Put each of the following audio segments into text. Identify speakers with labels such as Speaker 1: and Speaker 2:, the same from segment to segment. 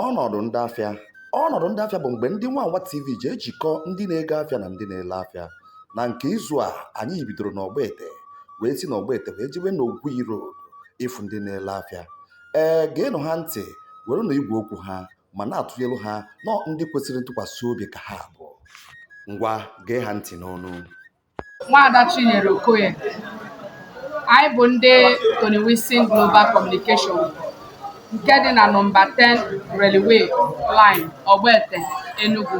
Speaker 1: Ọnọdụ ndị afịa Ọnọdụ ndị afịa bụ mgbe ndị Wawa TV ji ejikọ ndị na-ego afịa na ndị na-ele afịa. Na nke izu a, anyị bidoro n'Ogbete wee si n'Ogbete wee jewe n'Ogui Road ịfụ ndị na-ele afịa. Ee, geenụ ha ntị, werenụ igwe okwu ha ma na-atụnyelu ha na ọ ndị kwesịrị ntụkwasị obi ka ha bụ. Ngwa, gee ha ntị n'ọnụ. Nwaada
Speaker 2: Chinyere Okoye, Anyị bụ ndị Tony Wilson Global Communication nke dị na nọmba 10 Railway Line Ogbete Enugu.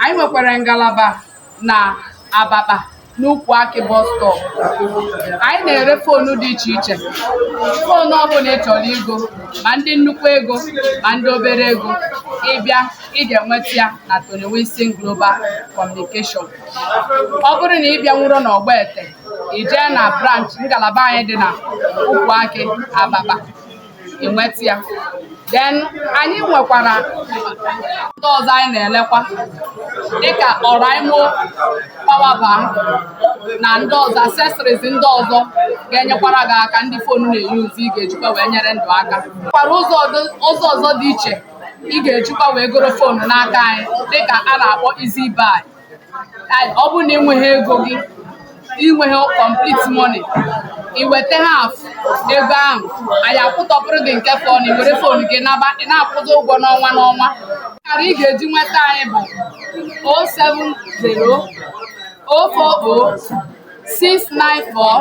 Speaker 2: Anyị nwekwara ngalaba na Abakpa n'Ukwu Akị bus stop. Anyị na-ere foonu dị iche iche. Foonu ọbụla ị chọrọ igo, ma ndị nnukwu ego, ma ndị obere ego, ị bịa, ị ga-enweta ya na Tony Wilson Global Communication. ọ bụrụ na ị bịanwuro n'Ogbete i jee na branch ngalaba anyị dị na Ukwu Akị Abakpa i nweta ya then anyị nwekwara ndị ọzọ anyị na-elekwa dịka Oraimo Power Bank na ndị ọzọ accessories ndị ọzọ ga-enyekwara gị aka ndị fonu na-eyuzu ị ga-ejikwa wee nyere ndụ aka nwekwara ụzọ ọdụ- ụzọ ọzọ dị iche ị ga-ejikwa wee goro foonu n'aka anyị dịka a na-akpọ easy buy ọ bụrụ na i nweghị ego gị i nweghị complete money i weta half ego ahụ anyị akwụtọpụrụ gị nke fọnụ i were fon gị naba ị na-akwụta ụgwọ n'ọnwa n'ọnwa akara ị ga-eji nweta anyị bụ 070 040 694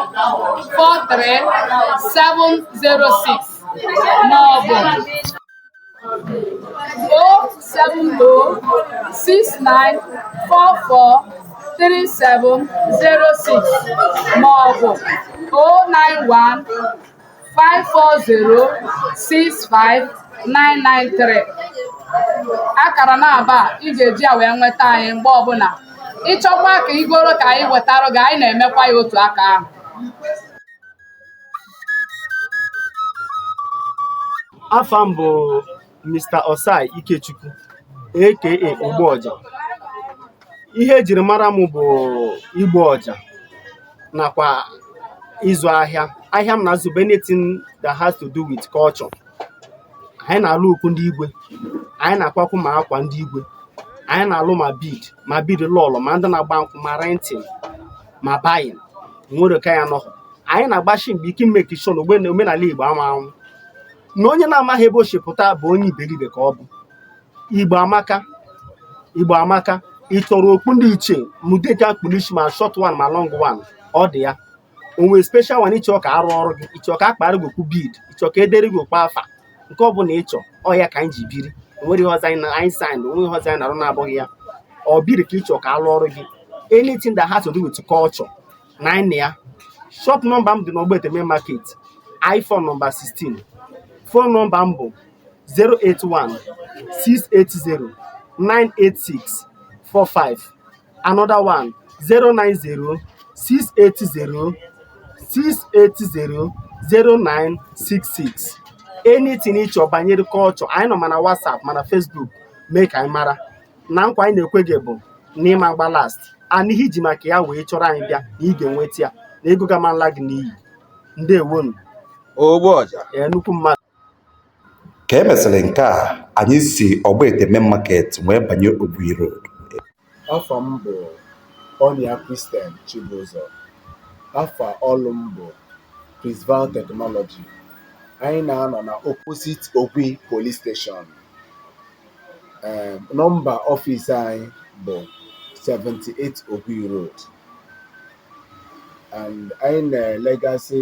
Speaker 2: 43706 ma ọ bụ O seven O six nine four four three seven zero six ma ọ bụ O nine one five four zero six five nine nine three. Akara naabọ a ị ga-eji ya wee nweta anyị mgbe ọbụla. Ị chọkwa ka i goro ka anyị wetara gị, anyị na-emekwa ya otu aka ahụ.
Speaker 3: afa m bụ Mr. Osai Ikechukwu a.k.a. Ogbu Ọja ihe e jiri mara m bụ igbu ọja nakwa ịzụ ahịa ahịa m na-azụ bụ anything that has to do with culture anyị na-alụ okpu ndị igwe anyị na-akwakwu ma akwa ndị igwe anyị na-alụ ma bead ma bead lọlọ ma ndị na-agba nkwụ ma renting ma buying nwero ka ya nọhụ anyị na-agbashi mbọ ike ị make sure na omenala igbo ama anwụ na onye na-amaghị ebe o si pụta bụ onye iberibe ka ọ bụ igbo amaka igbo amaka ị chọrọ okpu ndị ichie ma ụdị nke a kpu l'ishi ma short one ma long one ọ dị ya o nwee special one ị chọ ka a rụọrọ gị ị chọ ka a kpara gị okpu bead ị chọ ka e dere gị okpu afa nke ọ bụla ị chọ ọ ya ka anyị ji biri o nwere ihe ọzọ anyị na anyị sign o nwe ihe ọzọ anyị na-arụ na-abụghị ya ọ biri ka ị chọ ka a lụọrụ gị anything that has to do with culture na anyị na ya shop nọmba m dị n'Ogbete Main Market I4 nọmba 16 phone nọmba m bụ 081 680 986 45 another one 090 680 680 0966 anything ị chọ banyere culture anyị nọ ma na WhatsApp ma na Facebook mee ka anyị mara na nkwa anyị na-ekwe gị bụ na ị ma gba last na ihe i ji maka ya wee chọrọ anyị bịa na ị ga-enweta ya na ego gị aman la gị n'iyi ndewonu ogbu
Speaker 1: ọja ee nnukwu mmadụ Ka e mesịrị nke a, anyị si Ogbete Main Market wee banye Ogui Road.
Speaker 4: Afa m bụ Onyia Christian Chibuzor. Afa ọlụ m bụ Prisval Technology. Anyị na-anọ na opposite Ogui Police Station. Ee, nọmba ọfịs anyị bụ 78 Ogui Road. And anyị na-elegasị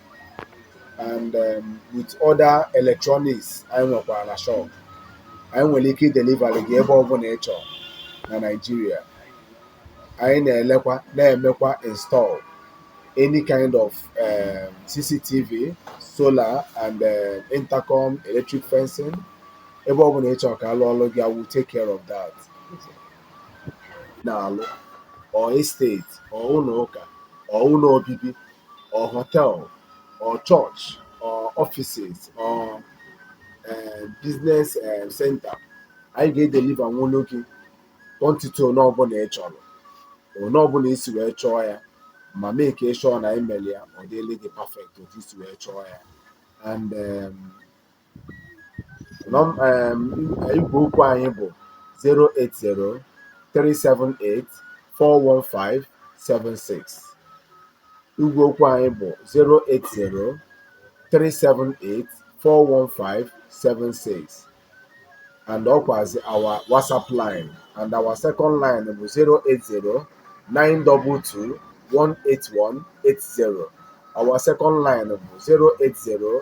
Speaker 4: and um, with other electronics anyị nwekwara na shop anyị nwere ike idelivari gị ebe ọbụla ị chọrọ na Nigeria anyị na-elekwa na-emekwa install any kind of um, CCTV solar and um, intercom electric fencing ebe ọbụla ị chọrọ ka a lụọlụ gị we'll take care of that na-alụ or estate or ụlọ ụka or ụlọ obibi or hotel or church or offices or eh, business eh, center anyị ga-edeliva nwulu gị quantity one ọbụla ị chọrọ one ọbụla i si wee chọọ ya ma mee ka ị chọọ na imeli ya ọ dịrị gị perfect otu i si wee chọọ ya and em, Nọm um igwe okwu anyị bụ 08037841576 igwe okwu anyị bụ 08037841576 and ọkwazi our WhatsApp line and our second line bụ 08092218180 our second line bụ 080